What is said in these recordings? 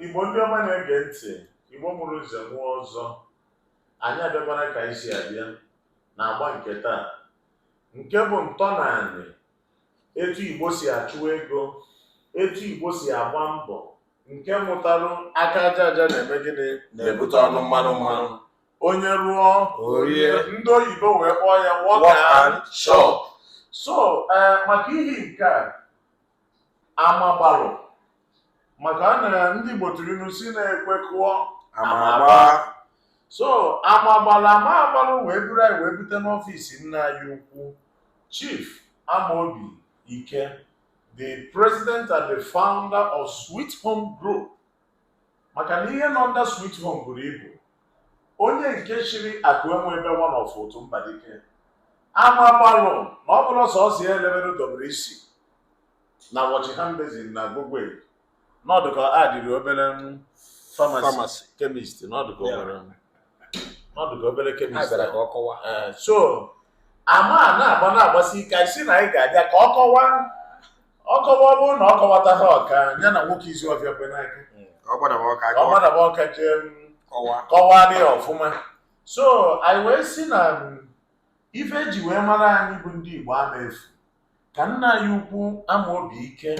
Igbo ndị ọma na-ege ntị Igbo mụrụ nze mụọ ọzọ anyị abịakwara ka anyị si abịa na agba nke taa nke bụ ntọnaanị etu Igbo si achụ ego etu Igbo si agba mbọ nke mụtarụ aka aja aja na-eme gịnị na-ebute ọnụ mmanụ mmanụ onye rụọ o rie ndị oyibo wee kpọọ ya work and chop so ee maka ihi nke a ama gbalụ maka na ndị Igbo tụrụ ilu sị na ekwe kụọ ama agbaa so ama agbala ama gbalụ wee buru anyị wee bute n'ọfịs nna anyị ukwu Chief Amaobi Ike the president and the founder of Sweet Home Group maka na ihe nọ under Sweet Home buru ibu onye nke chiri akụ enwe ebe one of Ụtụ Mbadike ama gbalụ na ọ bụrọ sọsọ ya e lebere WC na wash hand basin na Agogwe n'ọdụ ka a dịrị obere kemist n'ọdụ ka obere ka ọ kọwaa. Ee, so ama a na-agba na-agbasi ike anyị sị na anyị ga-abịa ka ọ kọwa ọ kọwa ọ bụrụ na ọ kọwata ha ọka ya na nwoke izu ọbịa kwe n'aka ka ọ gbadaba ọka jee m, kọwaa ya ọfụma so anyị wee sị na ife e ji wee mara anyị bụ ndị Igbo ama efu ka nna anyị ukwu Amaobi Ike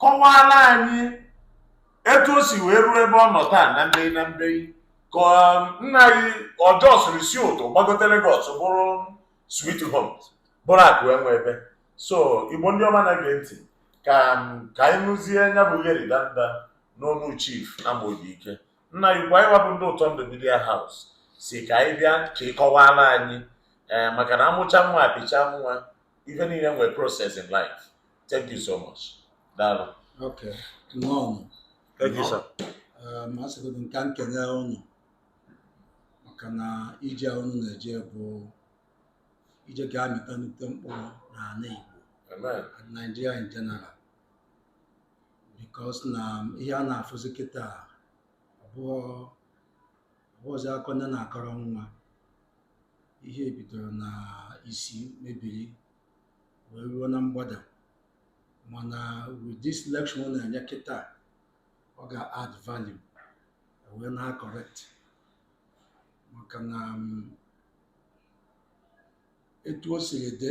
kọwaara anyị etu o si wee ruo ebe ọ nọ taa na mbei na mbei ka um, nna anyị odogwu siri si Ụtụ gbagote Lagos bụrụ Sweet Home bụrụ akụ enwe ebe so Igbo ndị ọma na-ege ntị ka um, ka anyị nụzie nya bụ gheri danda n'ọnụ Chief Amaobi Ike nna anyị ukwu anyị wa bụ ndị ụtọ ndụ media house sị ka anyị bịa ka ị kọwara anyị ee eh, maka na a mụchaa nwa a pịchaa nwa ife niile nwere process in life thank you so much daalụ okay nnọọ thank you sir eh, ma asịgodo ka m kene ụnụ maka na ije a ụnụ na-eje bụ ije ga-amịta nnukwu mkpụrụ n'anị Igbo and Nigeria in general because na ihe a na-afụzi kịta ọ bụzi akọ nne na-akọrọ nwa ihe bidoro na isi mebiri wee ruo na mgbada mana with this lecture ụnụ na-enye kịta ọ ga-add value wee na-correct maka na um, etu o siri dị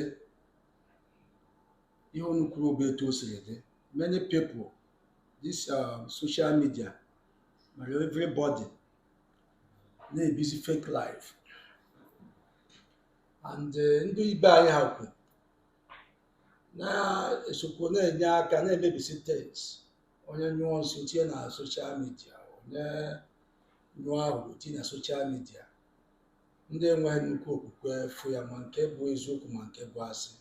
ihe unu kwuru bụ etu o siri dị many people this uh, social media mere everybody na-ebizi fake life and eh, ndị ibe anyị ha kwu na-esokwu na-enye aka na-emebisi things onye nyụọ nsị o tinye na social media onye nyụọ ahụ tinye na social media ndị enweghị nnukwu okwukwe fụ ya ma nke bụ eziokwu ma nke bụ asị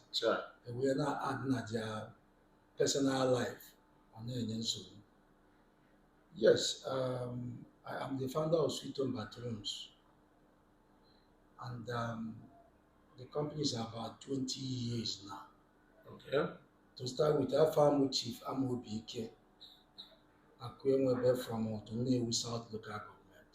ewee na-adị na their personal life ọ na-enye nsogbu yes um, I am the founder of Sweet Home Bathrooms and um, the company is about 20 years now okay. to start with afa m bụ Chief Amobi Ike Akuenwebe from Utuh Nnewi South Local Government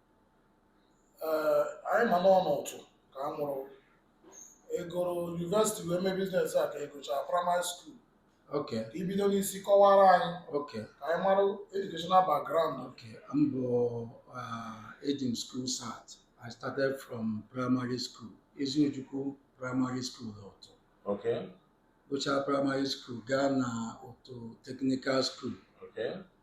ee anyị ma na ọ n'Utuh ka a mụrụ ị gụrụ university wee mee business a ka ị gụchara primary school okay ka ibido n'isi kọwara anyị okay ka anyị mara educational background Okay, m bụ uh, eji m School Cert. I started from primary school, Eziojukwu Primary School Utuh. Okay, gụchaa Primary School, gaa na Utuh Technical School. okay,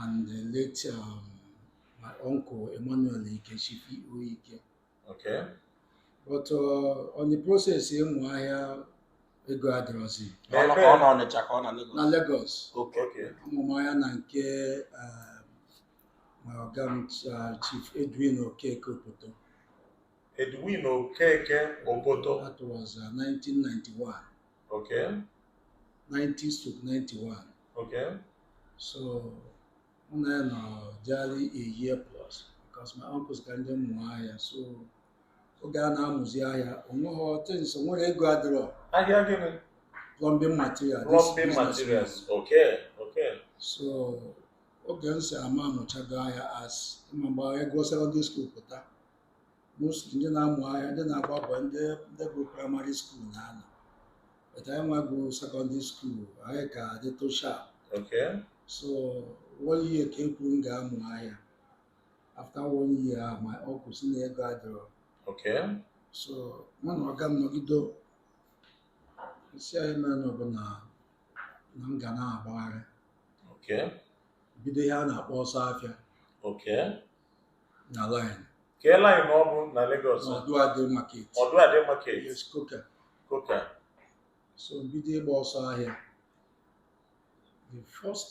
and the late um, my uncle Emmanuel Ike Chief U Ike. Okay. But uh, on the process ịmụ ahịa ego adịrọzi Ọ na- ọ na Ọnịcha ka ọ na Lagos. na Lagos. Okay. Okay. Amụ m ahịa na nke um, my ọga m uh, Chief Edwin Okeke Opoto. Edwin Okeke Obodo. That was uh, 1991. Okay. 90 stroke 91. Okay. So mụ na ya nọ jali a year plus because my uncles ka ndị m mụọ ahịa so oge a na-amụzi ahịa o nweghị options nwere ego adịrọ ahịa gịnị plumbing material this plumbing business materials okay okay so oge m si ama amụchago ahịa as ịma mgbe ị gụọ secondary school pụta mostly ndị na-amụ ahịa ndị na-agba boy ndị ndị gụrụ primary school na-anọ but anyị nwa gụrụ secondary school anyị ka dị tosha Okay. so one year ka e kwuru m ga-amụ ahịa after one year ahụ my uncle sị na ego adịrọ Okay. so mụ na ọga m nọgide ọ sị anyị mere na ọ bụ na na m ga na-agbagharị Okay. bido ihe a na-akpọ ọsọ afịa Okay. na line kee line ọ bụ na Lagos Oduade market Oduade market yes Coker Coker so bido ịgba ọsọ ahịa the first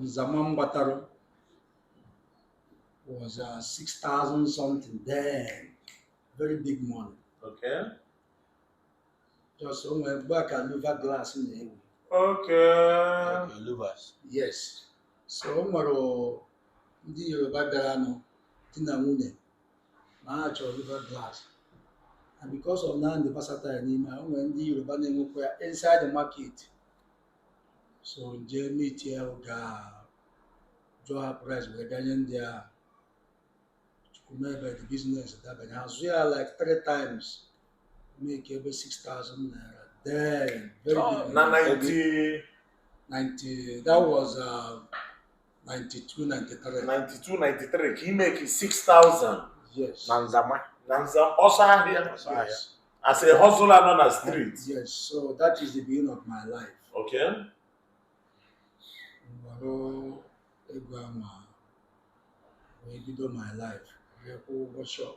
nzama m gbatara was uh, 6,000 something then very big money okay Just o nwere mgbe ahụ ka louvre glass na-ewu. Okay. Okay, louvres. Yes. So o nwere ndị Yoruba bịara nụ di na nwunye na ha chọrọ louvre glass. And because of na m dị versatile n'ime ahịa, o nwere ndị Yoruba na-enwekwa ya inside the market. So m je meet ya ga jụọ ha price wee bịa nye ndị ahụ. Chukwu mee ebere the business dabanye azụọ ya like three times make over 6000 naira then very Oh, big na money. 90 90 that was uh, 92 93 92 93 ka ị make 6000 yes na nzama na nza ọsọ ahịa Ọsọ ahịa. yes as a hustler nọ na street yes so that is the beginning of my life okay m wọrọ ego ahụ m wee bido my life wee kwụọ ụgwọ shop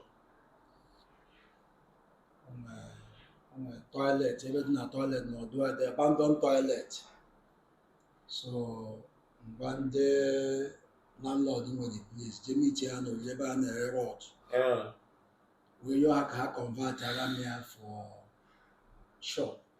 o nwe toilet ebe dị na toilet n'ọdụ a dị abandoned toilet so mgbe ndị landlord nwe the place jee meetie ha n'ọdụ ebe a na-ere rod wee yọọ ha ka ha convertịara m ya for shop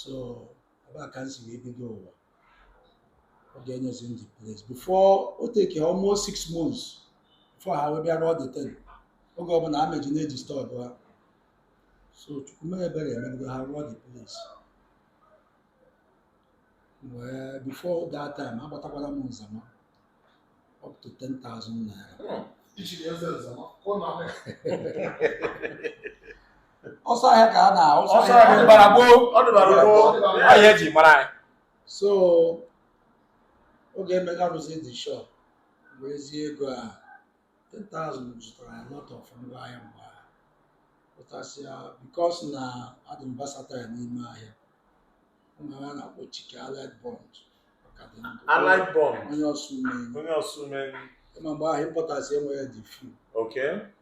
so ebe a ka m si wee bido ụwa oge e nyezi m the place before o take almost six months before ha wee bịa rụọ the thing oge ọbụla a m eje na-edisturb ha so chukwu mee ebere emebido ha rụọ the place wee before that time agbatakwara m nzama up to 10,000 naira ọsọ ahịa ka a na ọsọ ahịa gbara gboo ọ dịbara gboo ahịa e ji mara anyị so oge e mechara rụzi the shop bụ ezi ego a 10,000 zụtara a lot of ngwa ahịa mgbe ahụ importers a because na adị m versatile n'ime ahịa Allied Bond onye Osumenyi ma mgbe ahụ importers e nwere dị few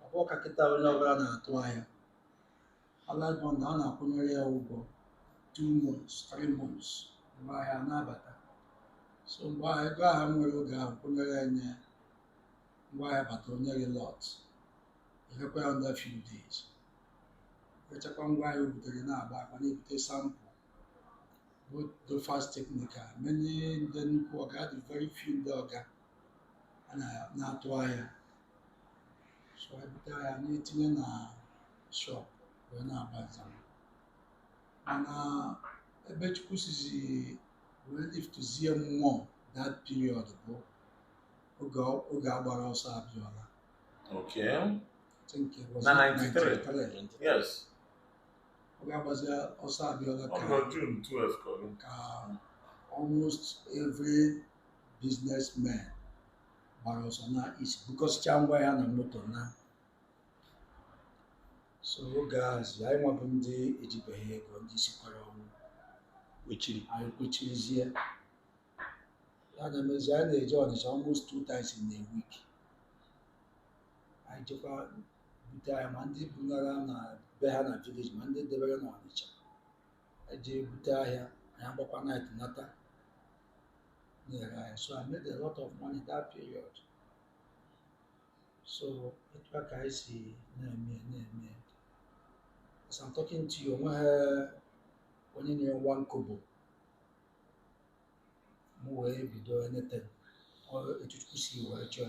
ọ bụrọ ka kịta onye ọbụla na-atụ ahịa Allied Bond a na-akwụnyere ya ụgwọ 2 months 3 months mgbe ahịa na-abata so mgbe ahụ ego ahụ m nwere oge ahụ kwụnyere ya nye mgbe ahịa bata o nye gị lot e rekwa ya under few days rechakwa ngwa anyị butere na-agbakwa na-ebute sample the fast technical many ndị nnukwu ọga dị very few ndị ọga a na- na-atụ ahịa so anyị bute ahịa na-etinye na shop wee na-agba nzama mana ebe chukwu sizi wee liftzie mụ that period bụ oge ọ- oge a gbara ọsọ Abiola Okay. na 93 yes oge a gbazi ọsọ abiola ka ọgọ june 12 ka ọ ka almost every businessman gbara ọsọ naa east bukọsịcha ngwa ya na moto naa so oge azi anyị nwa bụ ndị ejibeghị ego ndị sikwara ọnwụ kwechiri anyị kwechirizie a na-emezi anyị na-eje ọnịcha almost two times in a week anyị jekwa bute ahịa ma ndị bunara na be ha na village ma ndị debere na ọnịcha anyị jee bute ahịa anyị agbakwa night nata na-ere ahịa so I made a lot of money that period so etu a ka anyị si na-eme na-eme as I'm talking to you onweghị onye nyere m one kobo m wee bido enete etu chukwu si wee chọọ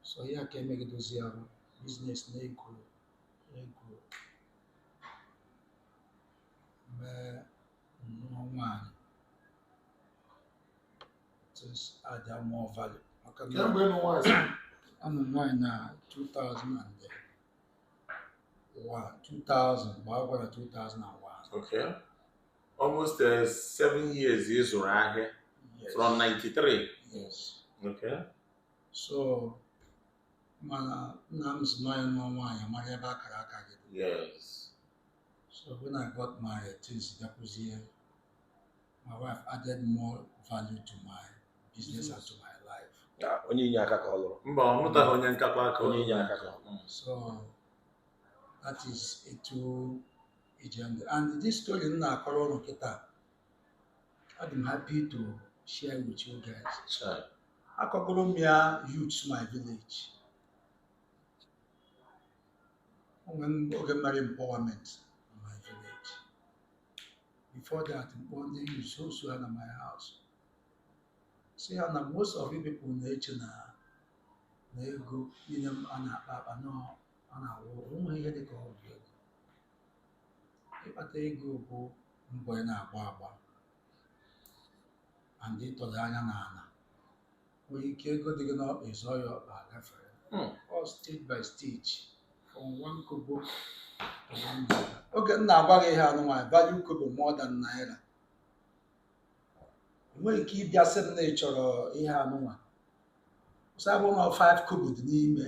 so ihe a ka emegidozi ahụ business na-ego ego m wee nụọ nwaanyị this added more value maka na kee mgbe ị nụ nwaanyị sir anụ m nwaanyị na 2001 2000 mgbe a gwara 2001 Okay. almost uh, seven years ị zụrụ ahịa yes. from 93 yes. okay. so mana nna m sị na ị nụọ nwaanyị ị mara ebe akara aka gị yes. so when I got married things bịakwuzie my wife added more value to my business and to my life onye inye aka ka ọ lụrụ mba ọ nụtaghị onye nkakwa aka onye inye aka ka ọ lụrụ so that is etu ije ndụ and this story m na-akọrọ ụnụ kịta adị m happy to share with you guys Chai. akọgoro m ya youth my village o nwere m- oge m mere empowerment in my village before that m kpọọ ndị youth sọsọ ha na my house sị ha na most of you people na-eche na na ego niile m a na-akpa akpa na ọ na-awụ onweghị ihe dị ka ọgwụ ego ịkpata ego bụ mbọ ị na-agba agba and ịtọdo anya n'ala nwere ike ego dị gị n'ọkpa ị zọọ ya ọkpa gafere Hmm. ọọ stage by stage from one kobo to one naira oge m na-agwa gị ihe anụnwa anyị value kobo more than naira i nwere ike ị bịa sị m na ị chọrọ ihe anụnwa once ọ bụ na 5 kobo dị n'ime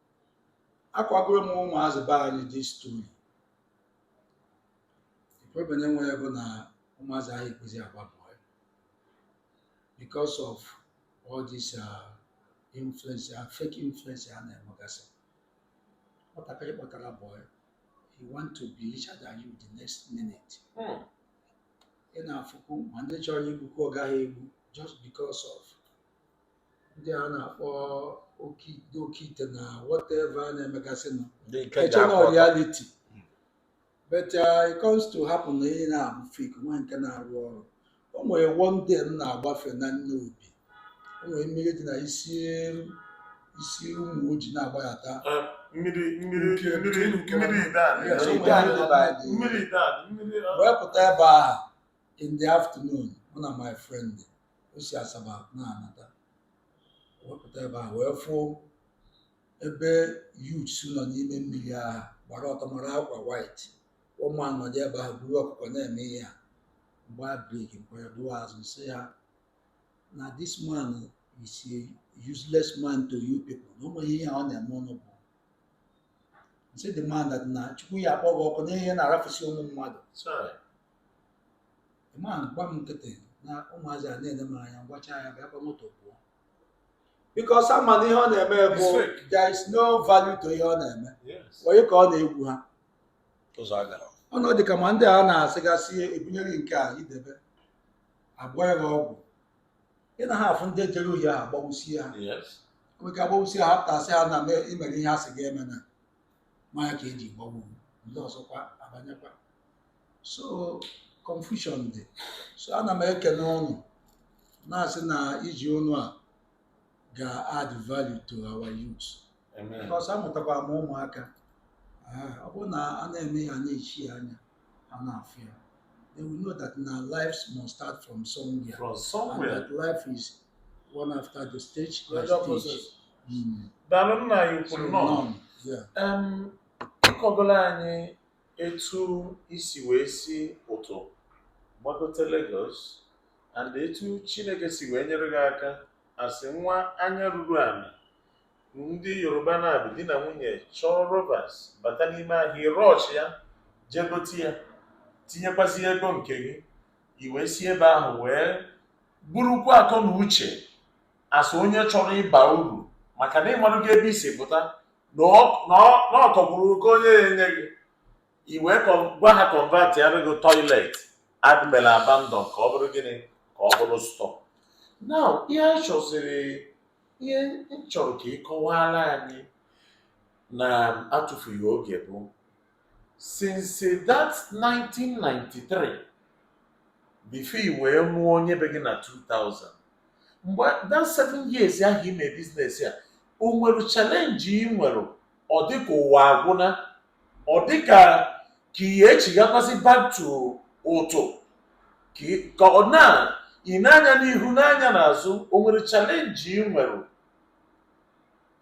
akọgoro m ụmụazị be anyị this story problem e nwere bụ na ụmụazị anyị ekwezi agba bọị because of all this uh, influence uh, fake influence a na-enwegasị nwatakịrị kpọtara bọị he want to be richer than you the next minute Hmm. ị na-afụkwu ma ndị chọrọ igbukwu ọga ya egbu just because of ndị a na-akpọ oke ndị oke ite na whatever a na-emegasị nọ Ndị nke eche na ga-akpọ reality but uh, it comes to happen na ihe na-abụ fake nwa nke na-arụ ọrụ o nwere one day m na-agbafe na Nnobi o nwere mmiri dị na i si i si Ụmụoji na-agbaghata Eh, mmiri mmiri Nke- mmiri nke- nke- mmiri ide a Yes, na- o Ide a nwere na-ebe a dị. mmiri ide a mmiri ah, wee pụta ebe ahụ in the afternoon mụ na my friend o si Asaba na-anata wepụta ebe a wee fụ ebe youths nọ n'ime mmiri ahụ gbara ọtọ mara akwa white one man nọdụ ebe ahụ buru ọkụkọ na-eme ihe a gbaa brake m kpọrọ dụwa azụ sị ya na this man is a useless man to you people na ụmụ ihe ọ na-eme ụnụ bụ m sị the man na Chukwu ya-akpọ gị ọkụ n'ihe ị na-arafusi ụmụ mmadụ the man gba m nkịtị na ụmụazị a na-ele m anya m gwachaa ya bịa gbaa moto pụọ because ama m na ihe ọ na-eme bụ It's fake. there is no value to ihe ọ na-eme Yes. onye ka ọ na-egwu ha Ụzọ agara. ọnụ dị ka ma ndị a na-asịgasị e bunyere gị nke a i debe agwọọra gị ọgwụ ị naha afụ ndị jere ohi ha agbagbusie ha Yes. nwere ike agbagbusie ha apụta sị ha na mee- i mere ihe a sị gị emena maka ya ka e ji gbagbu ndị ọzọkwa abanyekwa so confusion dị so ana m ekele ụnụ na-asị na ije ụnụ a ga-add value to our youths Amen. because amụtakwa m ụmụaka Ah, ọ bụrụ na a na-eme ya na-eji anya ha na-afụ ya they will know that na life must start from somewhere from somewhere and that life is one after the stage by stage hmm. daalụ nna anyị kwuru nọ ị kọgolo anyị etu i si wee si Ụtụ gbagote Lagos and etu Chineke si wee nyere gị aka as nwa anya ruru ala ndị Yoruba na-abụ di na nwunye chọọ rubbers bata n'ime ahịa ị rush ya jee gote ya tinyekwazi ego nke gị i wee si ebe ahụ wee burukwa akọ na uche as onye chọrọ ịba uru maka na ị maara ebe i si pụta na ọ- na ọ- na ọ tọgburu oke onye ya enye gị i wee kọ- gwa ha convertịara gị toilet ha mere abandon ka ọ bụrụ gịnị ka ọ bụrụ store na ihe anyị chọziri ihe m chọrọ ka ị kọwaara anyị na atụfughị oge bụ since that 1993 before i wee nụọ onye be gị na 2000 mgbe that seven years ahụ ime business a o nwere challenge ị nwere ọ dị ka ụwa agwụna ọ dị ka ka ihe echighakwasị back to ụtụ ka ị- ka ọ na ị na-anya n'ihu na-anya n'azụ o nwere challenge ị nwere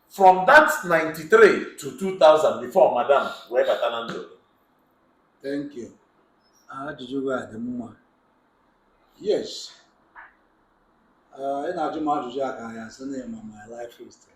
from that 93 to 2000 before madam wee bata na ndụ Thank you. Ajụjụ gị a dị mma. Yes. Ah, Ị na-ajụ m ajụjụ a ka a ga-asị na ị ma my life history.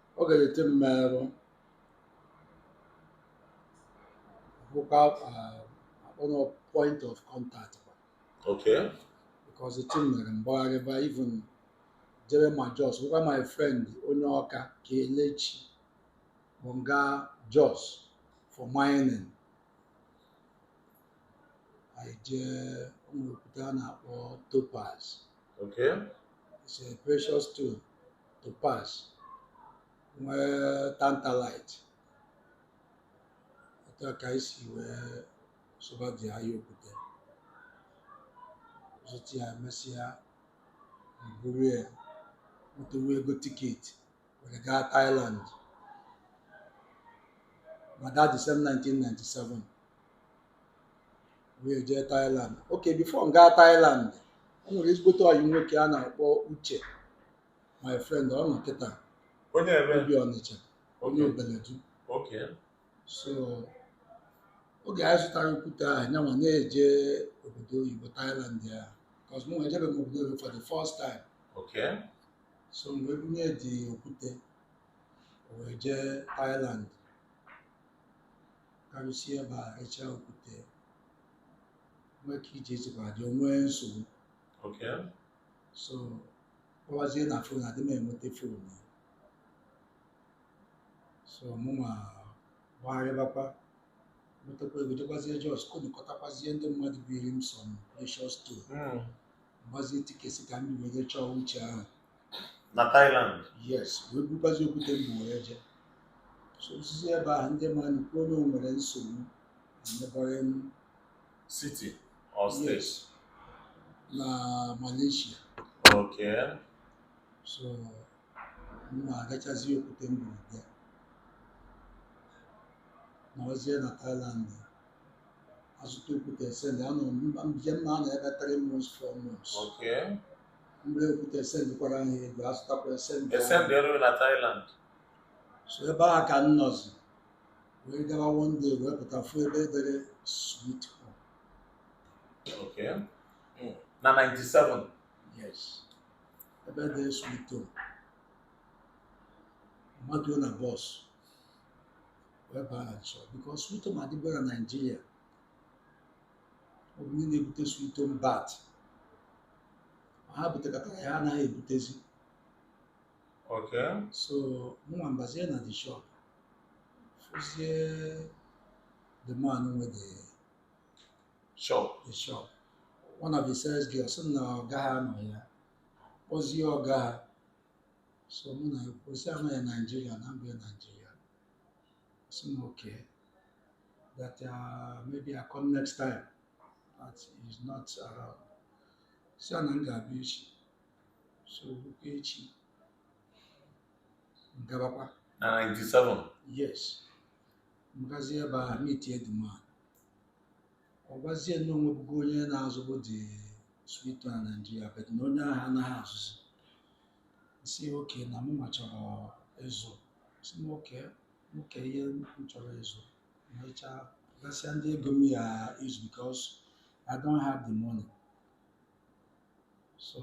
oge the thing mere ahụ bụkwa a kpọrọ point of contact kwa Okay. because the thing mere m gbagharịba even jere ma Jos bụkwa my friend onye Ọka Kelechi kpọ m gaa Jos for mining anyị jee o nwere okwute a na-akpọ topaz Okay. it's a precious stone topaz nwee tantalite otu a ka anyị si wee zụbadị ahịa okwute zụta ya mesịa buru ya nwetewa ego tiketi were gaa Thailand by that December 1997 wee jee Thailand okay before m gaa Thailand o nwere ezigbote ọyị nwoke a na-akpọ Uche my friend ọ nọ kịta onye ebe o bi Ọnịcha onye Obeledu okay so oge anyị zụtara okwute ahụ nyanwa na-eje obodo oyibo Thailand ya cos mụ ejebe m obodo oyibo for the first time okay so m wee bunye dị okwute o wee jee Thailand ka o ruzie ebe a rechaa okwute nwee ka ije ezikwa adị nwee nsogbu Okay. so kpọwazie na phone adị m enweta phone ya so mụnwa gbagharịbakwa nwetakwa ego jekwazie Jos kpọkọtakwazie ndị mmadụ biiri m some precious stone Mm. m gbazie tiketi ka m were chọọ Uche ahụ na Thailand yes wee bukwazi okwute m buru ya jee so o sizi ebe ahụ ndị mmadụ kwuo na o nwere nsogbu na neighbouring city or Yes. state na Malaysia okay so m na-agachazi okwute m bu bịa m nọzie na Thailand azụta okwute send a na m eje m na-anọ ebe three months four months okay mgbe okwute esendikwara ha ego azụtakwa esendi ahụ. esend ero na Thailand so ebe ahụ ka m nọzi wee gawa one day wee pụta fụ ebe edere sweet home okay Mm. na 97 yes ebe edere sweet home m mapụ na bus wee baa na shop because sweet home adịbụghị na Nigeria ọ bụ ndị na-ebute sweet home but ha butekatara ya anaghị ebutezi Okay. so mụnwa m bazie na the shop jụzie the man nwe the Shop. the shop. One of the sales girls sị na ọga ha anọghị ya kpọzie ọga ha so mụ na-ekwusị ya na onye Nigeria na m bụ onye Nigeria Ọ sị m okay, that uh, maybe I come next time that he's not around. Sị ya na m ga-abịa echi, so rukwa echi m gabakwa. Na 97? Yes. M gazie ebe a meet the man. Ọ gwazie m na o nwebugo onye na-azụbu the sweet home na Nigeria, but na onye ahụ anaghị azụzi. M sị okay na mụnwa chọrọ ịzụ. sị m okay nwoke ihe m chọrọ ịzụ mechaa gosi ya ndị ego m ya-ezu because I don't have the money so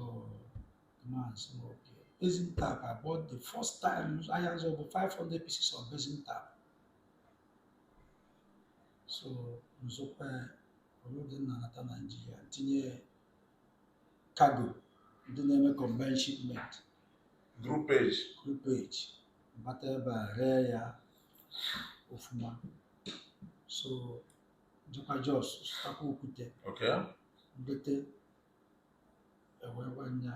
the man sị m okay basin tap I bought the first time ahịa m zụ bụ 500 pieces of basin tap so m zụkwa ya o loadie m nata Nigeria m tinye cargo ndị na-eme combined shipment groupage groupage m bata ebe a ree ya ofuma so jekwa Jos zụtakwa okwute okay m wete ereekwa ya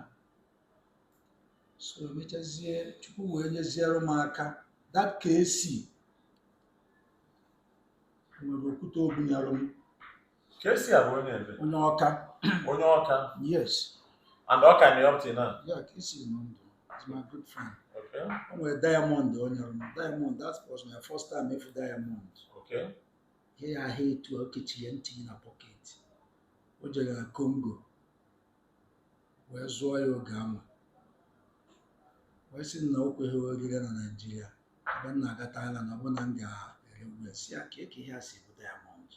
so emechazie Chukwu wee nyeziere m aka that KC nwere okwute o bunyere m KC a bụ onye ebee onye Ọka onye Ọka yes and ọ ka nọ ya ọ pụta na ya KC nọ ndụ he's my good friend okay o nwere diamond o nyere m diamond that was my first time ịfụ diamond okay ihe ha aha etu a o kechiri tinye na pocket o jere na Congo wee zụọ ya oge ama wee sị m na o kweghị ya ere na Nigeria ebe m na-aga Thailand na ọ bụrụ na m ga-ere ya sị ya kee ka ihe a si bụ diamond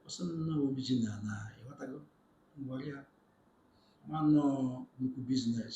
ọ sị m na ọ original na ịghọtago m gwara ya mana ọ nnukwu business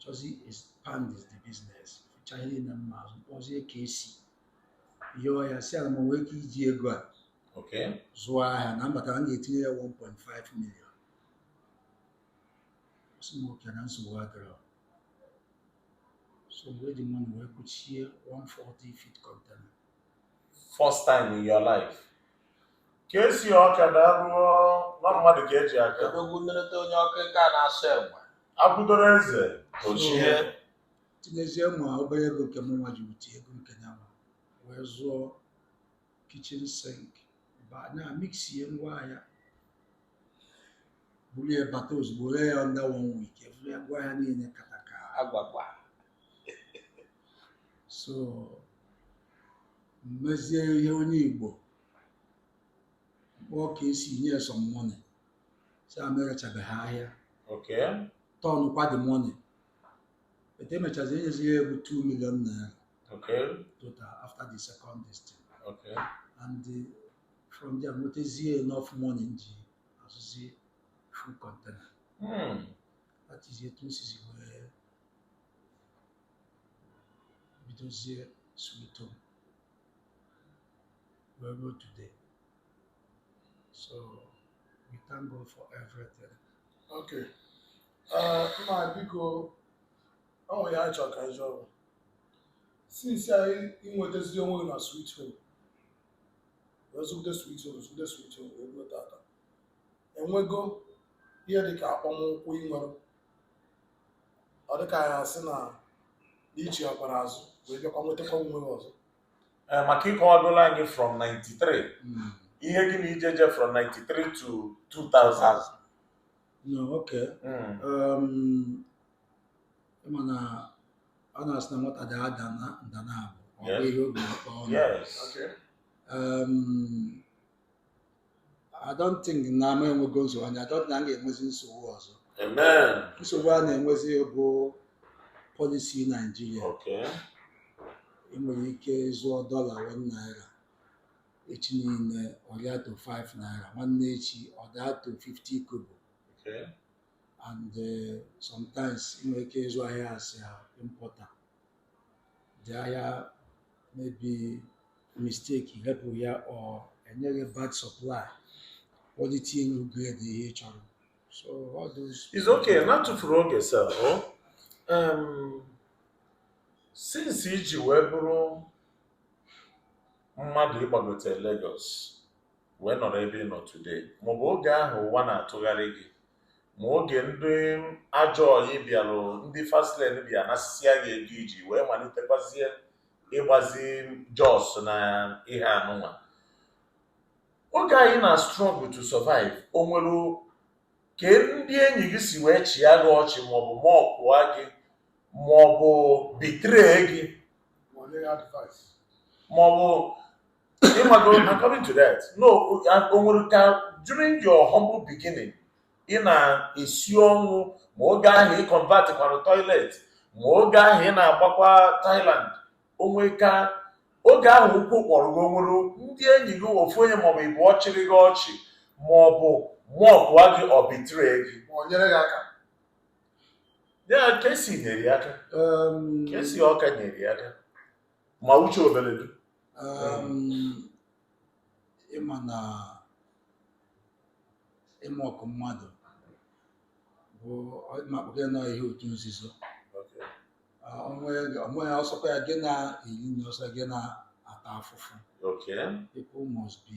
chọzi expandizi the business fụcha ihe na mma azụ kpọzie KC yọọ ya sị ya na m nwee ike iji ego a Okay. zụọ ahịa na m bata m ga-etinye ya 1.5 million ọ sị m okay na nsogbu adịrọ so mgbe eji money wee kwuchie one 40 feet container First time in your life. KC ọka na anụ nwa mmadụ ka eji aka odogwu nleta onye ọkụ nke a na-asị onye akwadoro eze o chie tinyezie ma obere ego nke mụ nwa ji wete ego nke ya nwa wee zụọ kitchen sink ba na mixer ngwa ahịa buru ya bata ozugbo ree ya under one week eburu ya ngwa ahịa niile kata ka agwagwa so m mezie ihe onye Igbo kpọọ KC nye some money sị ya m erechabeghị ahịa Okay. turnkwa the money but emechazi enyezi ya ego 2 million naira Okay. total after the second this thing Okay. and the, from there nwetazie enough money m ji azụzi full container Hmm. that is etu m sizi wee bidozie sweet home wee ruo today so we thank God for everything okay uh, ma biko ọ nwere ihe m chọrọ ka m jụọ since a ị nwetazi onwe gị na sweet home wee zụgide sweet home zụgide sweet home wee ruo tata enwego ihe dị ka akpọmụkwụ ị nwere ọ dị ka a ya-asị na i chiakwara azụ wee bịakwa nwetakwa onwe gị ọzọ Eh, maka ị kọwagolu anyị from 93 ihe gị na ije i je from 93 to 2000 no okay Mm, um, ị ma na a na-asị na nwata daa ada nda naabọ a gụọ Yes. ihe o bu n'akpa ọnụ yes Okay. um, I don't think na m enwego nsogbu and I don't na m ga-enwezi nsogbu ọzọ Amen. nsogbu a na-enwezi bụ policy Nigeria Okay. ị nwere ike zụọ dollar one naira echi niile ọ rịa to 5 naira nwanne echi ọ daa to 50 kobo Okay. and eh, sometimes ị nwere ike ịzụ ahịa as an importer jaa ya maybe mistake happen ya or enye gị bad supply quality elurọ grade ihe ị chọrọ so all those It's okay, na atụfurọ oge sir o um, since iji wee bụrụ mmadụ ịgbagote Lagos wee nọrọ ebe ị nọ today maọbụ oge ahụ ụwa na-atụgharị gị ma oge ndị ajọ ọyị bịara ndị fast lane bịa nasịsịa gị ego iji wee malitekwazie ịgbazi Jos na ihe anụnwa oge anyị na struggle to survive o nwere ka ndị enyi gị si wee chịa gị ọchị maọbụ mockụa gị maọbụ betray gị maọbụ ịmago according to that no o nwere ka during your humble beginning ị na-esi ọnwụ ma oge ahụ ị convertịkwara toilet ma oge ahụ ị na-agbakwa Thailand o nwere ka oge ahụ ụkwụ kpọrọ gị o nwere ndị enyi gị ofu onye maọbụ ịbụọ chịrị gị ọchị maọbụ mockụa gị or betray gị ma o nyere gị aka ya kesi nyere ya aka Em, kesi ọka nyere ya aka ma uche obere dị ịma na ịmock mmadụ bụ ịmakpụkọ na ihe otu nzuzo onwe ya ọ sọkwa ya gị na-eli na ọ sọ gị na-ata afụfụ people must be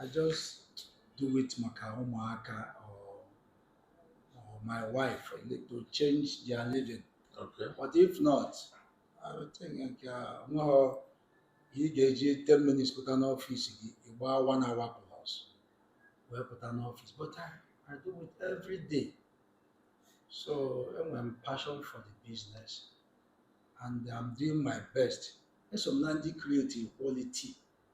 I just do it maka ụmụaka or, or my wife to change their living. Okay. But if not, I would think nke a nweghọ ị ga-eji 10 minutes pụta n'ọfịs gị ị gbaa one hour plus wee pụta n'ọfịs but I, I do it every day so enwere m passion for the business and I'm doing my best eso m na ndị creative quality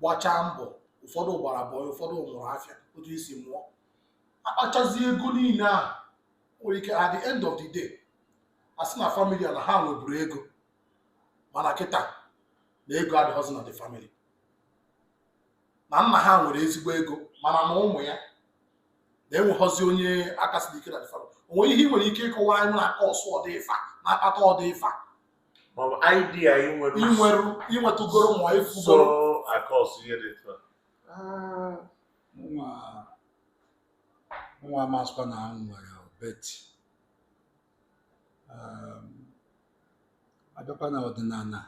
gbachaa mbọ ụfọdụ gbara bọị ụfọdụ mụrụ afịa otu isi mụọ akpachazi ego niile a nwere ike at the end of the day a sị na family a na ha nweburu ego mana kịta na ego adịghịzi na the family na nna ha nwere ezigbo ego mana na ụmụ ya na enweghọzi onye aka siri ike na the family o nwere ihe ị nwere ike ịkọwa anyị na-acause ụdị ifa na-akpata ụdị ifa ma ọ bụ idea ị nwere ị nwere ị nwetụgoro ma ị so fụgoro acause ihe dị etu a Ah, nwa nwa amasịkwa na m nwere but um, a bịakwa na ọdịnala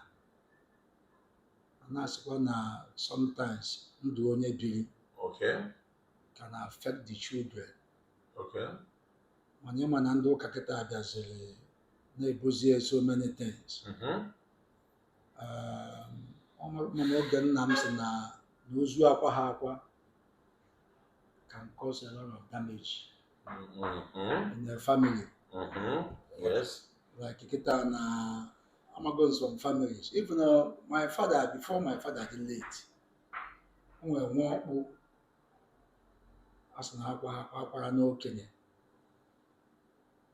a na-asịkwa na sometimes ndụ onye biri okay can affect the children okay mana ịma na ndị ụka kịta abịaziri na-ebuzi ya so many things mm-hmm. um, mana oge nna m sị na ozu akwaha akwa can cause a lot of damage mm-hmm. in the family mm-hmm. yes like kịta na amago some families even uh, my father before my father dị late o nwere nwa ọkpụ a sị na akwaha akwa a kwara n'okenye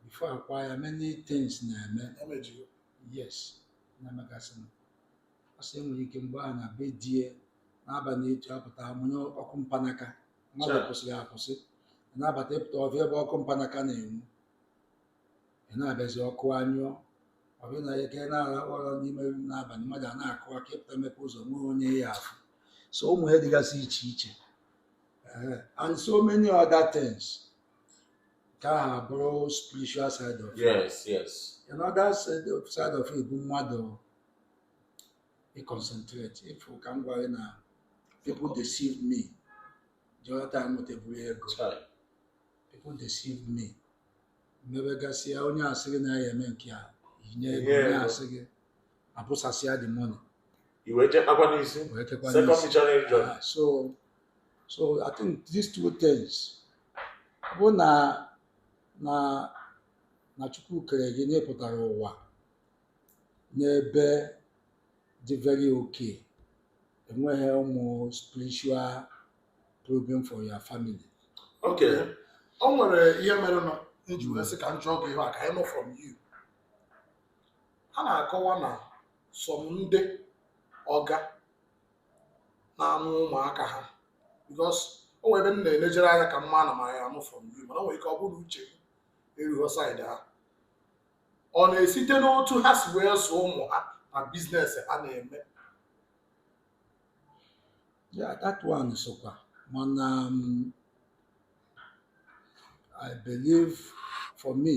before akwa ya many things na-eme emejigo yes na-emegasịnụ ọ sị enwere ike mgbe a na be die n'abalị etu apụta amụnye ọkụ mpanaka mmadụ Sure. kwụsịrị akwụsị na-abata ị pụta ọ bịa ebe ọkụ mpanaka na-enwu ị na-abịazi ọkụ anyụọ ọ bịa na ike na-ara ụra n'ime rum n'abalị mmadụ a na-akụ aka ị pụta mepe ụzọ nwee onye ị ya-afụ so ụmụ ihe dịgasị iche iche Ehe. and so many other things nke ahụ abụrụ spiritual side of it. yes yes another side of, side of it bụ mmadụ ịconcentrate ị fụ ka m gwara gị na people deceive me the other time m nweteburu ego Chai. people deceive me mmebegasịa onye a sị gị na ya eme nke a i nye ego I nye onye ego. a sị gị abụsasịa the money i wee jee kpakwa n'isi wee jekwa second n'isi. missionary journey Ah, so so i think these two things ọ bụ na na na chukwu kere gị na ị pụtara ụwa n'ebe dị very okay enweghị ụmụ spiritual problem for your family ok o nwere ihe mere m ji wee sị ka m jụọ gị ihe a ka anyị mụọ from you A na-akọwa na some ndị ọga na-amụ ụmụaka ha because o nwere ebe m na-elejere anya ka m mara ma anyị ya-amụ from you mana o nwere ike ọ bụrụ na uche m erughọ side ahụ ọ na-esite n'otu ha si wee zụọ ụmụ ha na business ha na-eme ya that one sokwa mana um, I believe for me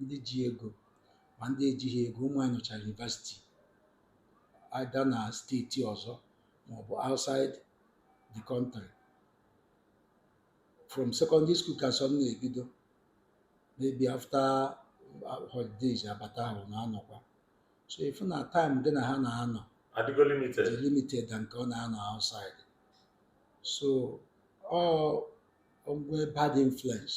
ndị ji ego ma ndị ejighị ego ụmụ anyị nọchara university either na state ọzọ maọbụ outside the country from secondary school ka some na-ebido maybe after uh, holidays abata ahụ na-anọkwa so ị fụ na time gị na ha na-anọ adịgo dị limited limited na nke ọ na-anọ outside so ọ o nwee bad influence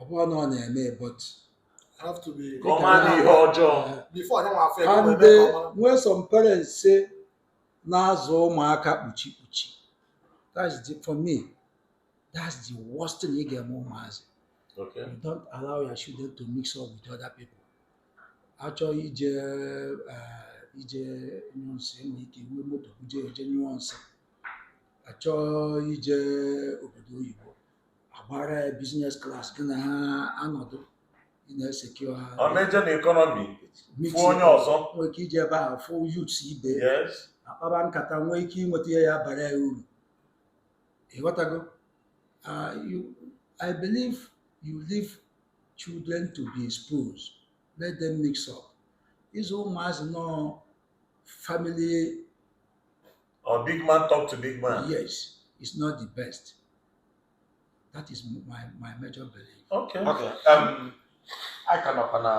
ọ bụrụ na ọ na-eme ụbọchị have to be Ka ọ mara ihe ọjọọ. before onye nwa afọ ego and wee mee ka ọ mara. nwee some parents si na-azụ ụmụaka kpuchi kpuchi that's the for me that's the worst thing ị ga-eme ụmụazị Okay. you don't allow your children to mix up with other people achọ ije eh, ije nyụọ nsị enwere ike iwe moto buje eje nyụọ nsị achọ ije obodo oyibo agbara ya business class gị na ha anọdụ ị na-esekio ha ọ na-eje na economy fụ onye ọzọ nwee ike iji ebe ahụ fụ youth ibe ya yes akpaba nkata nwee ike inweta ihe ya-abara ya uru ị ghọtago Ah, you- i believe you leave children to be exposed let them mix up ịzụ ụmụazị nọ family Or oh, big man talk to big man. Yes, it's not the best. That is my, my major belief. Okay. Okay. Um, a ka na-ekwu na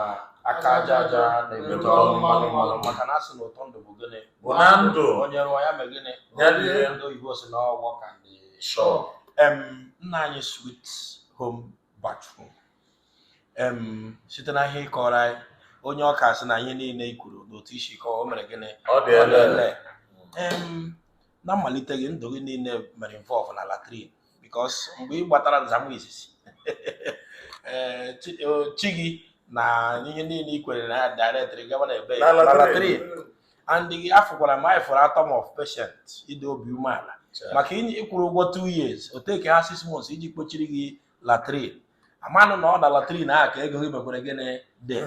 aka aja aja na-ebute ọnụ mmanụ mmanụ maka na a sị na ụtọ ndụ bụ gịnị bụ na ndụ onye rụọ ya mee gịnị ndị oyibo sị na ọgwọ ka ndị nna anyị sweet home bathroom site na ihe ị kọọrọ anyị onye ọka sị na ihe niile i kwuru n'otu i si kọọ o mere gịnị ọ dị lee na mmalite gị ndụ gị niile mere involve na latrine because mgbe ị gbatara nzamụ izizi eh, eh, chi gị na ihe niile i kwere na ya directly gaba na ebe na latrine and gị afụkwara m anyị atom of patience ịdị obi umeala maka ị kwụrụ ụgwọ 2 years o take ha 6 months iji kpochiri gị latrine amanụ na ọ na latrine ahụ ka ego gị mekwere gịnị dị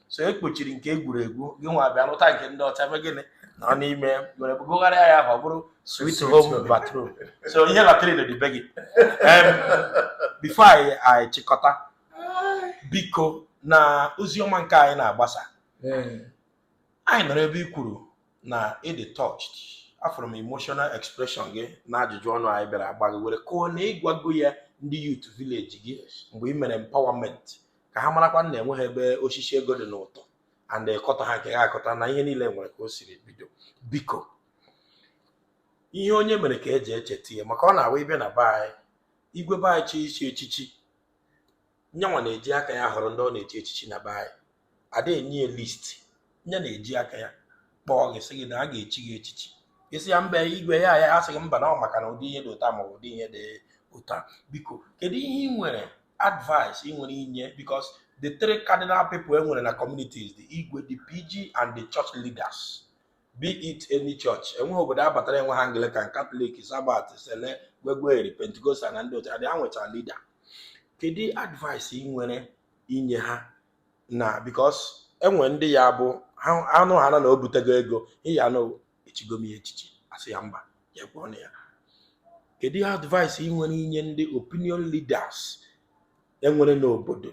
so e kpochiri nke egwuregwu gị nwa bịa lụta nke ndị ọcha mee gịnị nọ n'ime were gụgharịa ya ka ọ bụrụ sweet home bathroom so ihe latrine dị be gị Em, before anyị anyị chịkọta biko na ozi ọma nke anyị na-agbasa Ee. anyị nọrọ ebe i kwuru na ị dị touched afụrụ m emotional expression gị na ajụjụ ọnụ anyị bịara agba gị were kwuo na ị gwago ya ndị youth village gị mgbe ị mere empowerment ka ha marakwa na enweghị ebe osisi ego dị n'ụtọ and ịkọta ha nke ha akọta na ihe niile nwere ka o siri bido biko ihe onye mere ka e ji echeta ya maka ọ na-awụ ị bịa na be anyị igwe be anyị chi isi echichi nyanwa na-eji aka ya họrọ ndị ọ na-echi echichi na be anyị ada enye ya list nya na-eji aka ya kpọọ gị sị gị na a ga-echi gị echichi ị sị ya mba igwe ya ya-asị gị mba na ọ maka na ụdị ihe dị otu a ma ọ bụ ụdị ihe dị otu a biko kedu ihe ị nwere advice ị nwere inye because the three cardinal people e nwere na communities the igwe the pg and the church leaders be it any church enweghị obodo a batara enweghị anglican katọlik sabat sele gwegweri pentikostal na ndị otu adị ha nwecha leader kedu advice ị nwere inye ha na because enwe ndị ya bụ ha- anụ ha na na o butego ego ịya na echigo m ya echichi asị ya mba ya kwuo na ya kedu advice ị nwere inye ndị opinion leaders enwere n'obodo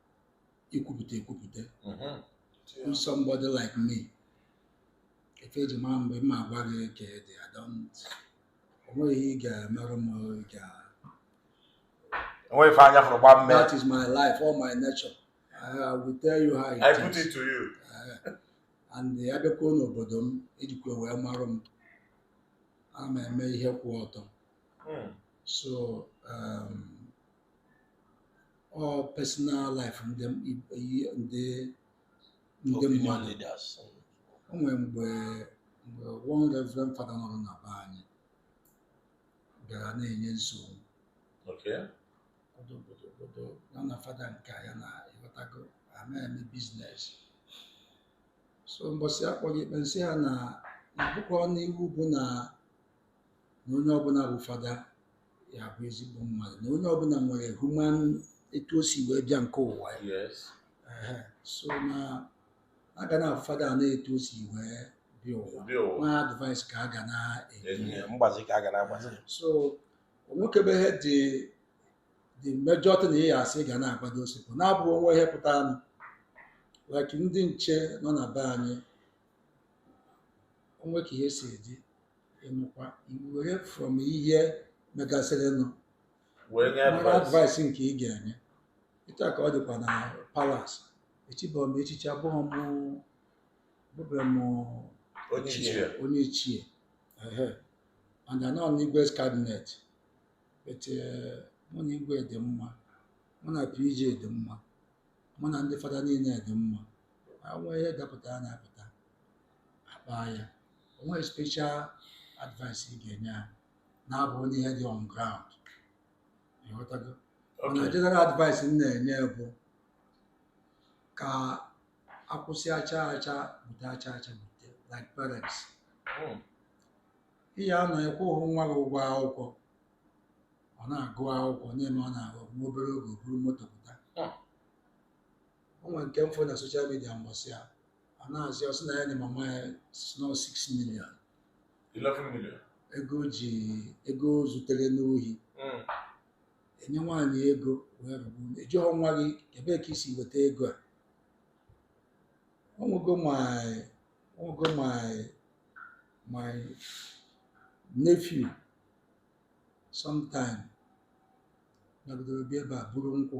ikwupụta ekwupụta to somebody like me ife eji mara m bụ m agwa gị ka ọ dị I don't onweghị ihe ị ga-emerụ m ị ga onweghị ife anya fụrụ gbaa mmee that is my life or my nature I will tell you how it is I put it to you Eh, and abịakwuo n'obodo m ejikwa wee marụ m ana m eme ihe kwụ ọtọ Mm. so um, ọ personal life ndị ndị ndị mmadụ o nwere mgbe mgbe one reverend fada nọrọ na be anyị bịara na-enye nsogbu obodo ya na fada nke ya na ịghọtago ama eme business so mbọsị akpọlụ ikpe m sị ha na na-abụkọ n'iwu bụ na na onye ọbụla bụ fada ya-abụ ezigbo mmadụ na onye ọbụla nwere human etu o si wee bịa nke ụwa ya yes Ehe. so na a ga na-afụ fada a n'etu o si wee bịa ụwa Bịa ụwa. nwa advice ka a ga na-enye ya mgbazi ka a ga na-agbazi so onwekebeghị ụdị mmejọ dị na ya asị ị ga na-agbado osipụ na-abụ onwe ihe pụtara nụ like ndị nche nọ na be anyị onwe ka ihe si eji ịnụkwa were from ihe megasịrịnụ wee nye mmadụ advice advice nke ị ga-enye etu a ka ọ dịkwa na palace echibọ m echichi abụghị m abụbọ m onye ichie onye ichie ehe and anọ m n'igwe's cabinet but eh, mụ na igwe dị mma mụ na pg dị mma mụ na ndị fada niile dị mma onwee ihe dapụta anyị apụta akpaa ya onwe special advice ị ga-enye ha na-abụ onwe ihe dị on ground ịghọtago mana Okay. general advice m na-enye bụ ka akwụsị acha acha bute acha acha bute like parents Mm. ị ya-anọ ịkwụghị nwa gị ụgwọ akwụkwọ ọ na-agụ akwụkwọ na-eme ọ na-agụ nwa obere oge o buru moto pụta o nwere nke m fụ na soshal midia mbọsị a a na-asị ọ sị na ya dị mama ya sno 6 million 11 million. ego o ji ego o zutere n'ohi Mm. enye nwaanyị ego wee rụgbu ụlọ. ị jụọ nwa gị ebee ka i si weta ego a o nwego my o nwego my my nephew sometime nọgidere bịa ebe a buru nkwụ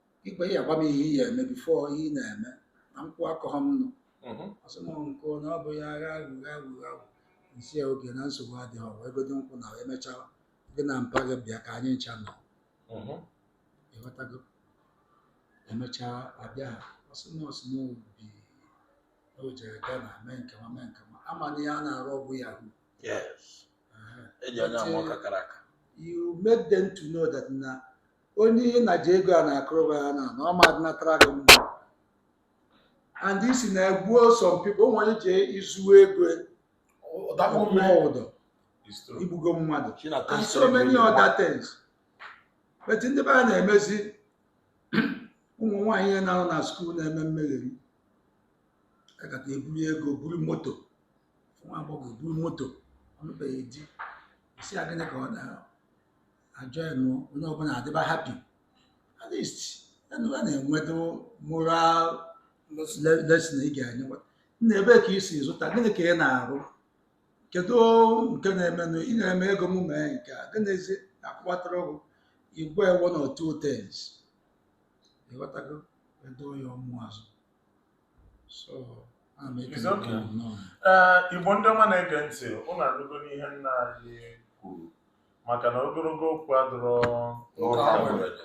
ikpe ya gwa m ihe ị ya eme bifo ihe ị na-eme na nkwụ akọghọ m nụ Mhm. ọ sị m nkwụ na ọ bụ ya agha aghụghọ aghụghọ aghụghọ m sị ya okay na nsogbu adịghị ọwa egodo nkwụ na emechaa gị na mpa gị bịa ka anyị ncha nọ Mhm. ị ghọtago emechaa abịa ha ọ sị m ọ sị m obi o jere Ghana mee nke nwa mee nke nwa a ma na ihe a na-arụ ọ bụ Yahoo Yes. e ji anya ama ọka kara aka you make them to know that na onye ihe na ji ego a na-akụrụba ya na na ọ ma adịnatara gị mma and isi na-egbuo some people ụmụ onye ji izu ego Ọdakpọ ọkpụọ mmiri. ụdọ It's true. igbugo mmadụ She na and test so many every other one. things but ndị be a na-emezi ụmụ nwaanyị ihe na-anọ na skuul na-eme mmegheri a gakata eburu ego buru moto nwa agbọghọ eburu moto ọ nụbeghị di ị sị a gịnị ka ọ na ajọnụ onye ọbụla adịba happy at least enu a na-enwedo moral le- lesson ị ga-enye nna ebee ka i si zụta gịnị ka ị na-arụ kedu nke na-emenụ ị nyere m ego m mee nke a gịnịzi akwụwatara ụgwọ igwe one or two things ị ghọtago edo ya ọmụ azụ so ana m ekele It's okay. gị nnọọ. Ee, Igbo ndị ọma na-ege ntị, unu anụgo ihe nna anyị kwuru. maka na ogologo okwu adịrọ N'ụka Ụka mgbede. mgbede.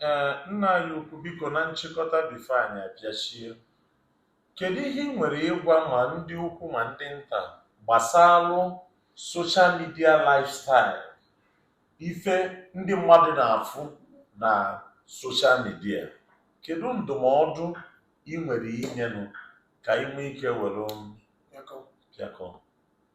ee nna anyị ukwu biko na nchịkọta bifo anyị apịachie kedu ihe ị nwere ịgwa ma ndị ukwu ma ndị nta gbasalụ soshal midia lifestyle ife ndị mmadụ na-afụ na soshal midia kedu ndụmọdụ ị nwere inyenụ ka ị nwee ike were pịakọ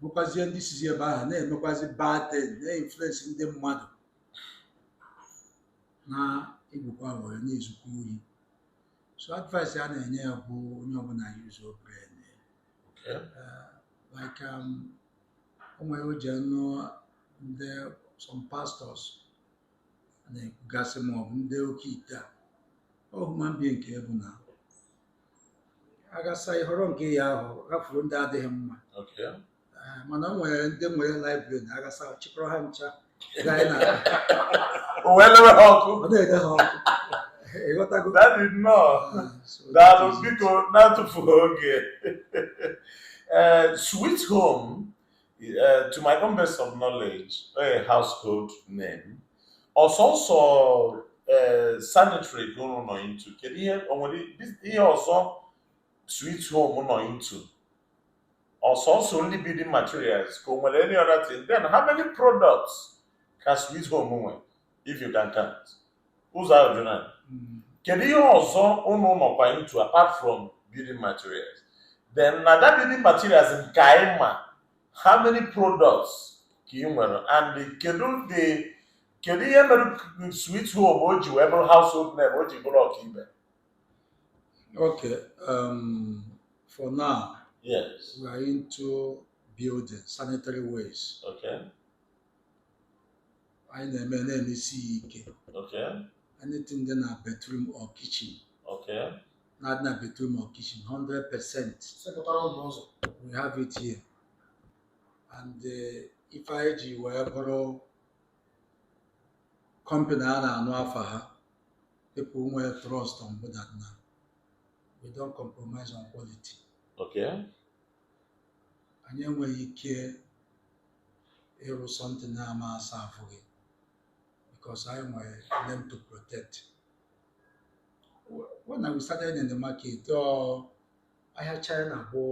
bụkwazie ndị sizi ebe ahụ na-emekwazi bad thing na-influensi ndị mmadụ na igbukwa were na-ezukwa ohi so advice a na-enye ya bụ onye ọbụla yuzuo brain Okay. like um, o nwere o ji anụ ndị some pastors na-ekwugasị ma ọ bụ ndị oke ite a ọ human being ka ị bụ na agasa ịhọrọ nke ya ahụ hafụrụ ndị adịghị mma Okay. Ah, mana o nwere ndị nwere library na agasa chịkọrọ ha ncha gaa na O wee lewe ha ọkụ. ọ na-ele ha ọkụ ịghọtago Daddy nnọọ. Ah, so Daalụ that is- biko na-atụfughị oge. Ee, Sweet Home Uh, to my own best of knowledge, a household name. Ọ sọsọ uh, sanitary ka unu nọ into. Kedu ihe o nwere bis- ihe ọzọ sweet home nọ into? Ọ sọsọ only building materials ka o nwere any other thing? Then how many products ka sweet home nwe? if you can count ụzọ ahụ jụrụ anyị mm. kedu ihe ọzọ ụnụ nọkwa into apart from building materials then na that building materials nke anyị ma how many products ka ị nwere and kedu the kedu ihe mere sweet home o ji wee bụrụ household name o ji bụrụ ọkaibe okay um, for now yes we are into building sanitary wares okay anyị na-eme na-emesi ya ike Okay. anything dị na bathroom or kitchen Okay. na-adị na bathroom or kitchen 100 percent Sekpụtara ụzọ ụzọ. we have it here and eh, ife anyị ji wee bụrụ company a na-anụ afa ha people nwee trust on bụ that na we don't compromise on quality Okay. anyị enweghị ike ịrụ something na-ama aserve gị because anyị nwere name to protect when I started in the market ọ ahịa China bụ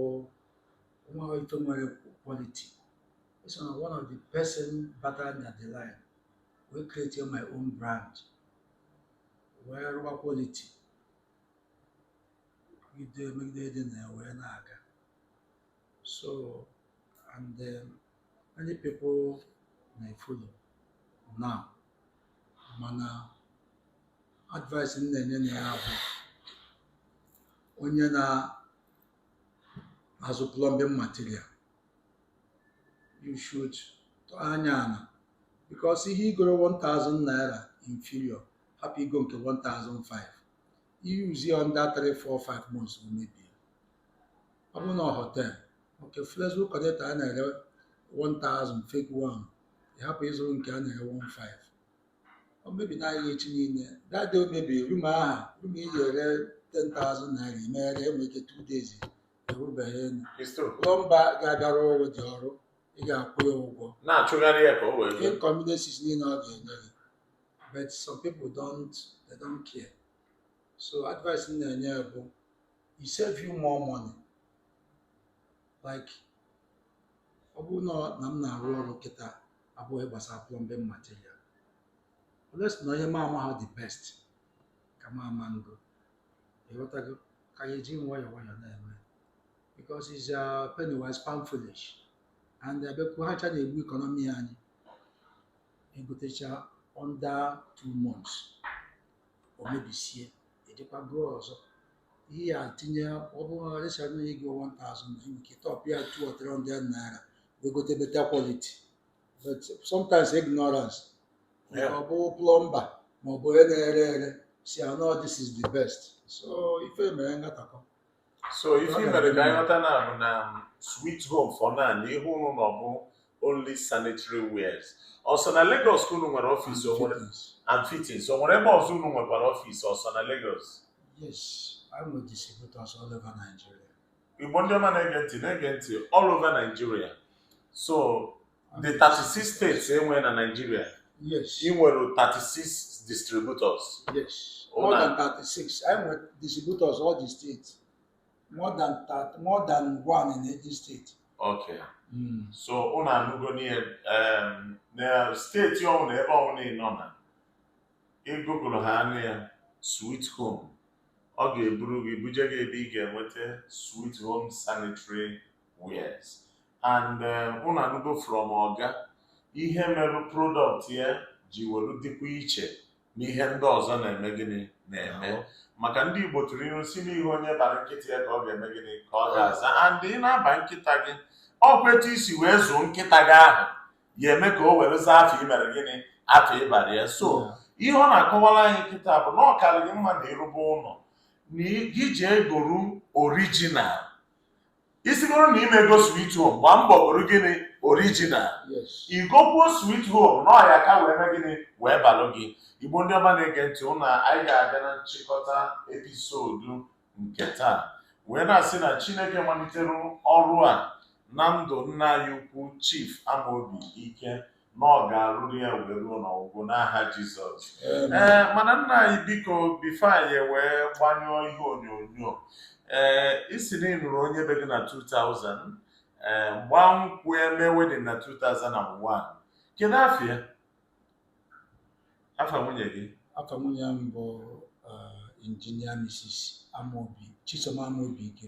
nwa ife nwere quality so na one of the person batara na the line wee create my own brand wee rụwa quality megide megide dị na ya wee na-aga So, and um, many people na-efollow now. Mana advice m na-enye na ya bụ onye na-azụ plumbing material you should tụọ anya ana because ihe i goro 1000 naira inferior hapụ igo nke 1005 i yuzie under 3 4 5 months o mebie ọ bụrụ na ọ họtel oke flexible connector a na-ere 1000 fake one ị hapụ ịzụrụ nke a na-ere 15 o mebi n'ahịa echi niile that day o mebiri rum ahụ rum iji ere 10,000 naira imegharị enwe ike 2 days erubeghị elu It's true. plọmba ga-abịa arụ ụdị ọrụ ị ga-akwụ ya ụgwọ na-achụgharị ya ka o wee zuo. inconveniences niile ọ ga-enye gị but some people don't they don't care so advice m na-enye bụ it save you more money like ọ bụrụ na na m na-arụ ọrụ kịta abụghị gbasara plumbing material unless na onye ma ama ha the best ka ma ama ngo ịghọtago ka ya eji nwayọọ nwayọọ na-eme because it's uh, penny wise pound foolish and abịakwu ha cha na-egbu economy anyị e gotecha under two months o mebisie e jekwa goo ọzọ ihe ya tinye ọ bụrụ na a sị na ego 1000 na e nwe ike top ya 2 or 300 naira wee gote better quality but sometimes ignorance Yeah. ọ bụ plọmba ma ọ bụ onye na-ere ere sị ah no this is the best so ife mere ngatakọ so ife i mere ka anyị ghọta now bụ na sweet home for now ihe ụnụ na ọ bụ only sanitary wares ọ sọ na Lagos ka unu nwere ọfịs o nwere and fittings o nwere ebe ọzọ unu nwekwara ọfịs ọ sọ na Lagos Yes, anyị nwere distributors all over Nigeria. igbo ndị ọma na-ege ntị na-ege ntị all over Nigeria so the 36 states e nwere na Nigeria yes ị nwere 36 distributors yes it's more than 36 anyị nwere distributors all the states more than 30 more than one in every state okay so ụnụ anụgo na em, na steeti ọbụla ebe ọbụla ị nọ na ị google aha ya sweet home ọ ga-eburu gị buje gị ebe ị ga-enweta sweet home sanitary wares and eh, unu anụgo from ọga ihe meru product ya ji welu dịkwa iche n'ihe ndị ọzọ na-eme gịnị na-eme maka ndị Igbo tụrụ ilu sị n'ihe onye bara nkịta ya ka ọ ga-eme gịnị ka ọ ga-aza and ị na-aba nkịta gị ọ kwa etu i si wee zụọ nkịta gị ahụ ya eme ka o were zaa afa i mere gịnị afa ị bara ya so ihe ọ na-akọwara anyị kịta bụ na ọ kara gị mma na ị rụba ụlọ na gị jee goru original ị sịgoro na ị ma ego sweet home gbaa mbọ goro gịnị original i gokwuo sweet home na ọ ya-aka wee mee gịnị wee balụ gị igbo ndị ọma na-ege ntị ụna anyị ga-abịa na nchịkọta episode nke taa wee na-asị na chineke malitere ọrụ a na ndụ nna anyị ukwu chief amaobi ike na ọ ga-arụrụ ya wee ruo n'ọgwụgwụ n'aha Jizọs ee mana nna anyị biko before anyị wee gbanyụọ ihe onyonyo ee ị sị na ị nụrụ onye be gị na 2000 ee gbaa nkwụ ya mee wedding na 2001 kedu afa ya afa nwunye gị afa nwunye m bụ injinia Mrs. Amobi Chisom Amobi Ike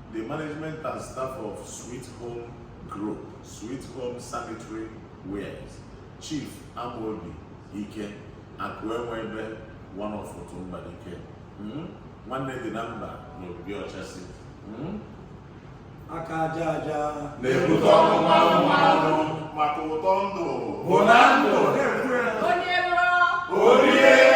The management and staff of Sweet Home Group, Sweet Home Sanitary Wares, Chief Amobi Ike, Akụenwebe one of Otumba Ike. Hmm? Nwanne dị na mba na Obibi Ọchasị. Hmm? aka aja aja na-ebute ọnụ mmanụ mmanụ maka ụtọ ndụ bụ na ndụ onye rụọ o rie